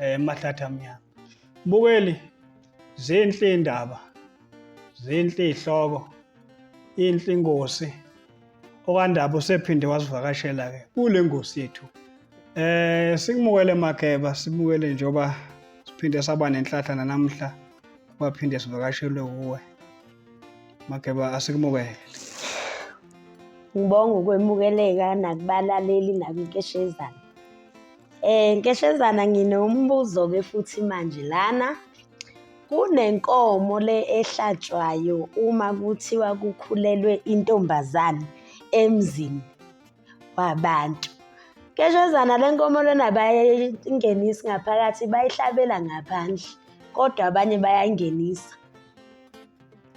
eh mahlathi amnyama bukeli zinhle indaba zinhle ihloko inhle ingosi okandaba usephinde wasivakashela ke kule ngosi yethu eh sikumukele makeba simukele njoba siphinde saba nenhlahla namhla waphinde sivakashelwe kuwe makeba asikumukele ngibonga ukwemukeleka nakubalaleli nakunkeshezana Eh nkeshezana nginombuzo-ke futhi manje lana kunenkomo le ehlatshwayo uma kuthiwa kukhulelwe intombazane emzini wabantu. Nkeshezana le nkomo lena bayayingenisa ngaphakathi bayihlabela ngaphandle kodwa abanye bayayingenisa.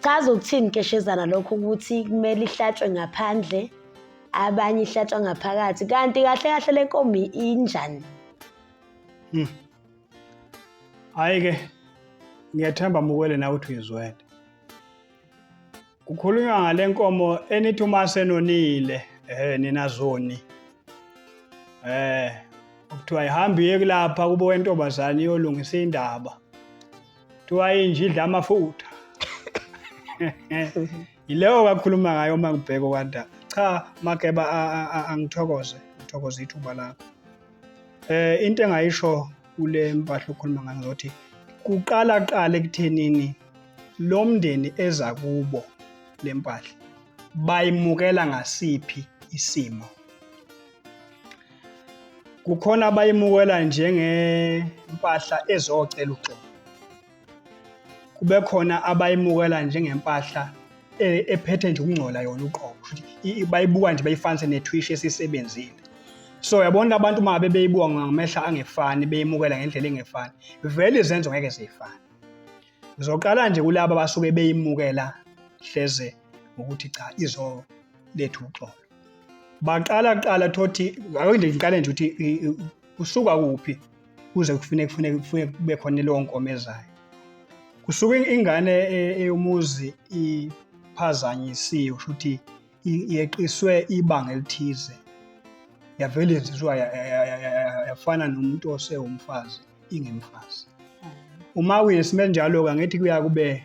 Chaza ukuthini keshezana lokho ukuthi kumele ihlatshwe ngaphandle abanye ihlatshwa ngaphakathi kanti kahle kahle le nkomi injani? Hmm. Hayi ke ngiyathemba mukwele nawe uthi uyizwele. Kukhulunywa ngale nkomo enithi uma senonile eh nina zoni. Eh kuthiwa ihambi iye kulapha kubo wentombazane iyolungisa indaba. kuthiwa inja idla amafutha yileyo kakhuluma ngayo uma ngibheka okwanda cha makeba angithokoze ngithokoze ithuba lakho eh into engayisho kule mpahla okhuluma ngayo ngokuthi kuqala qala ekuthenini lo mndeni eza kubo le mpahla bayimukela ngasiphi isimo kukhona abayimukela njengempahla ezocela uxolo kube khona abayimukela njengempahla e, ephethe nje ukungcola yona uqobo bayibuka nje bayifanise netwish esisebenzile so yabona abantu uma ngabe beyibuka ngamehla angefani beyimukela ngendlela engefani vele izenzo ngeke ziyifane ngizoqala nje kulaba abasuke beyimukela hleze ngokuthi cha izo lethu uxolo baqala kuqala thothi akuyinde ngiqale nje ukuthi kusuka kuphi kuze kufuneke kufuneke kufuneke kube khona leyo nkomo ezayo kusuke ingane e, eyomuzi iphazanyisiwe kusho ukuthi yeqiswe ibanga elithize yavele yenziwa yafana nomuntu osewumfazi ingemfazi uma uyesime njalo-ke angithi kuya kube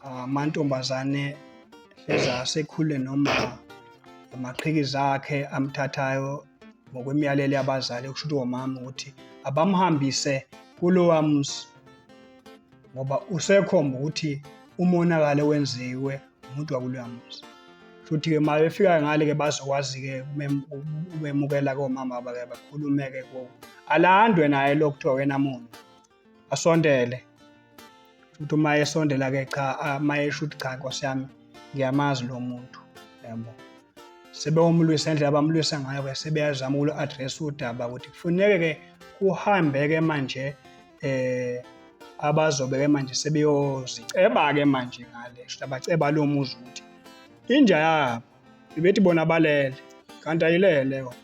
ah, amantombazane eza asekhule noma amaqhikizi akhe amthathayo ngokwemiyalelo yabazali okusho ukuthi womama ukuthi abamhambise kulowa muzi ngoba usekhomba ukuthi umonakalo wenziwe umuntu wakuloya muzi futhi-ke ma befika ngale-ke bazokwazi-ke ubemukela komama bake bakhulume-ke kuwo alandwe naye lo kuthiwa wena muntu asondele futhi uma esondela-ke cha uma esho ukuthi cha nkosi yami ngiyamazi lo muntu yabo sebewumlwisa indlela abamlwisa ngayo-ke sebeyazama uku-address udaba ukuthi kufuneke-ke kuhambe-ke manje eh abazobe ke manje sebeyoziceba ke manje ngale shuthi abaceba lo muzi ukuthi inja yabo ibethi bona balele kanti ayilele yona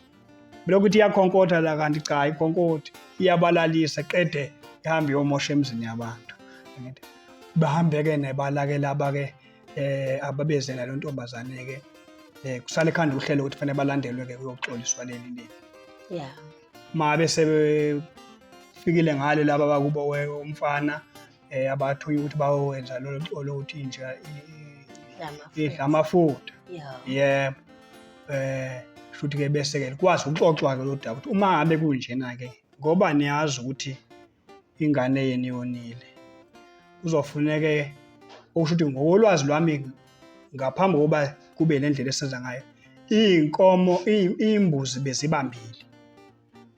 belokuthi iyakhonkotha la kanti cha ikhonkotha iyabalalisa qede ihambe yomosha emzini yabantu bahambeke nebalake laba ke eh ababezela lo ntombazane ke eh kusale khanda uhlelo ukuthi fanele balandelwe ke kuyoxoliswa leli leli yeah uma besebefikile ngale laba bakubo umfana eh abathunya ukuthi bawenza lolu colo ukuthi inja idla amafutha yebo eh futhi ke bese ke likwazi ukuxoxwa ke lodaba ukuthi uma ngabe kunjena ke ngoba niyazi ukuthi ingane yenu yonile kuzofuneke okusho ukuthi ngokolwazi lwami ngaphambi kokuba kube le ndlela esenza ngayo iy'nkomo iy'mbuzi bezibambile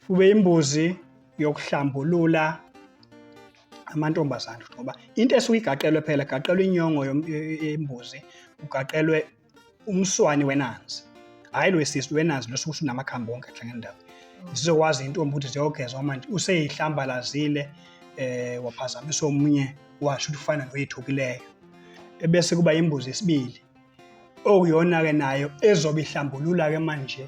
kube imbuzi yokuhlambulula amantombazane ngoba into esuke igaqelwe phela gaqelwe inyongo yembuzi kugaqelwe umswani wenanzi hhayi lo wesisi wenanzi lo sukuthi unamakhambi wonke ahlangene ndawo zizokwazi intombi ukuthi ziyogeza manje useyihlambalazile eh waphazamisa omunye washo ukuthi ufana noyithukileyo ebese kuba imbuzi esibili okuyona-ke nayo ezobe ihlambulula-ke manje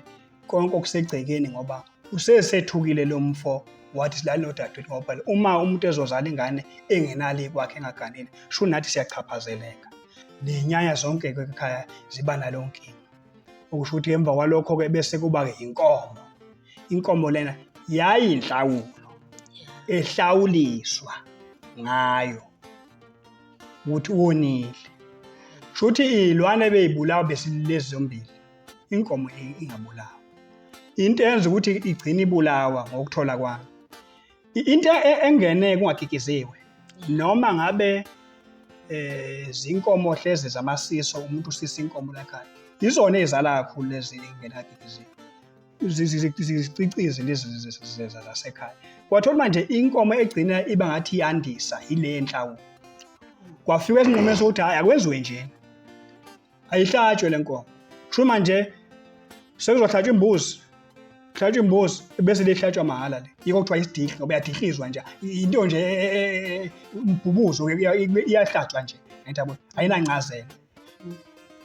konke okusegcekeni ngoba usesethukile lo mfo wathi silale nodadewethu ngoba phela uma umuntu ezozala ingane engenalo ikwakhe engaganile sho nathi siyachaphazeleka nenyanya zonke-ke ekhaya ziba nalo nkinga okusho ukuthi emva kwalokho-ke bese kuba-ke yinkomo inkomo lena yayinhlawulo ehlawuliswa ngayo ukuthi wonile shuthi iy'lwane bey'bulawa besilezi zombili inkomo ingabulawa into eyenza ukuthi igcine ibulawa ngokuthola kwami into e-, engene kungakikiziwe noma ngabe eh zinkomo hlezi zamasiso umuntu usisa inkomo lakhaya izona ezala kakhulu lezi engenakikiziwe zicicize lezi zasekhaya kwathola manje inkomo egcina iba ngathi yandisa yile enhlawulo kwafika esinqumeni sokuthi hhayi akwenziwe njena ayihlatshwe le nkomo sho manje sekuzohlatshwa imbuzi hlatshwa imbuzi bese lihlatshwa mahhala le yiko kuthiwa isidihli ngoba yadihlizwa nje into nje e, e, e, umbhubuzo iyahlatshwa nje ngiyabo ayinancazelo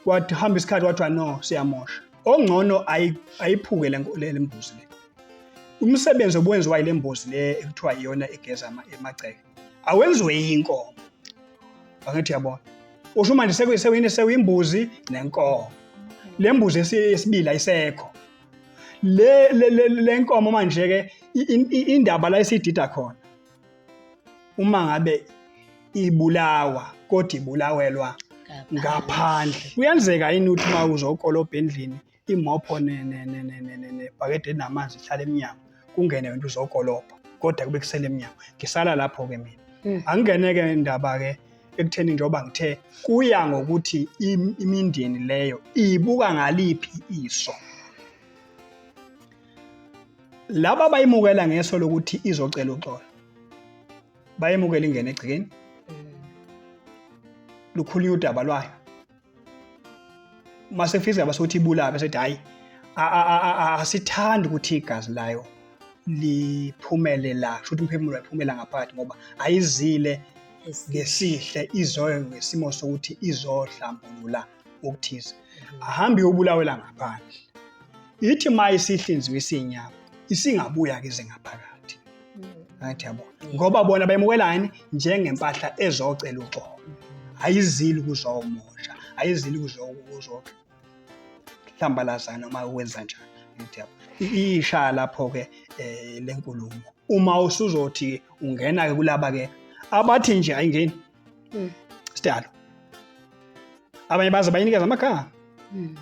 wathi hamba isikhathi wathiwa no siyamosha ongcono ayiphuke le mbuzi le umsebenzi obuwenziwa yile mbuzi le ekuthiwa iyona egeza emagceke awenziwe inkomo angithi yabona usho manje sekuyisewini sewimbuzi nenkomo le mbuzi esibili ayisekho le le nkomo manje ke indaba la isidida khona uma ngabe ibulawa kodwa ibulawelwa ngaphandle kuyenzeka yini ukuthi uma uzokolobha endlini imopho nebhakede elinamanzi ihlala emnyango kungene wena uzokolobha kodwa kube kusele emnyango ngisala lapho-ke mina hmm. angingene-ke indaba-ke ekutheni njengoba ngithe kuya ngokuthi imindeni leyo ibuka ngaliphi iso laba bayimukela ngeso lokuthi izocela uxolo bayemukela ingene egcikeni hmm. lukhulunywa udaba lwayo masefisa ngaba sokuthi ibulabe sethi hayi asithandi ukuthi igazi layo liphumele la kusho ukuthi umphefumulo wayiphumela ngaphakathi ngoba ayizile ngesihle izoyo ngesimo sokuthi izohlambulula okuthize mhm. ahambe uyobulawela ngaphandle ithi ma isihlinziwe isinyama isingabuya ke zingaphakathi ngathi yabo ngoba bona bemukelani njengempahla ezocela uxolo ayizili kuzomosha ayizili kuzohlambalazana noma wenza njani ngathi yabo isha lapho-ke um le nkulumo uma usuzothi ungena-ke kulaba-ke abathi nje ayingeni mm. sidalo abanye baze bayinikeza amagama mm.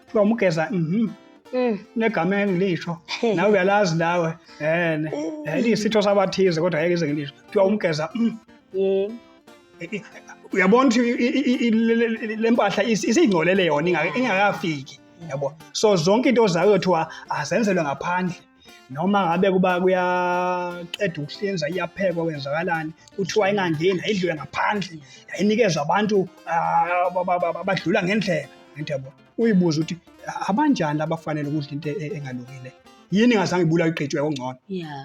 kuthiwa umugeza mhm mm negama engilisho nawe uyalazi nawe ene eh, liyisitho sabathize kodwa ngeke ize ngilisho kuthiwa umgeza mm. eh, eh, uyabona ukuthi le mpahla isiyingcolele yona ingakafiki yabo so zonke into zayo kuthiwa azenzelwe ngaphandle noma ngabe kuba kuyaqeda ukuhlinza iyaphekwa kwenzakalani kuthiwa ingangeni ayidlule ngaphandle yayinikezwa abantu ah, abadlula ngendlela into yabo uyibuza ukuthi abanjani abafanele ukudla into e-, engalungile yini ingazange ibulawe iqetshwe kongcono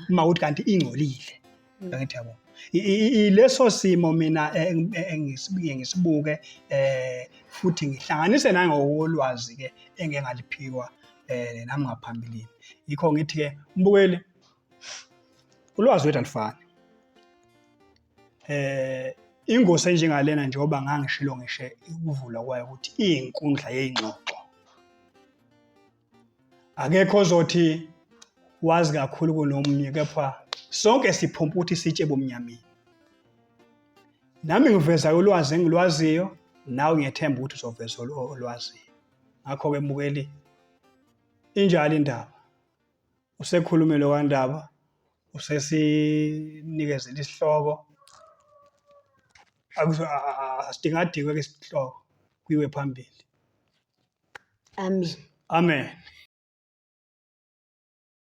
uma ukuthi kanti ingcolile Mm. Angithi yabo. I- i- i- Leso simo mina eh, eng- eh, engisibuke ngisibuke eh futhi ngihlanganise nangokolwazi ke engeke ngaliphiwa eh nami ngaphambilini. Yikho ngithi ke mbukeli ulwazi wethu alifani. Eh ingosi enjengalena njengoba ngangishilo ngishe ukuvula kwayo ukuthi iyinkundla yeyingxoxo. akekho ozothi wazi kakhulu kunomnye kepha sonke siphumpa ukuthi sitshe bomnyameni nami ngiveza ulwazi engilwaziyo nawe ngiyethemba ukuthi uzoveza olwaziyo ngakho-ke mbukeli injalo indaba usekhulume lo kandaba usesinikezela isihloko asidingadikwe ke isihloko kuyiwe phambili Amen. Amen.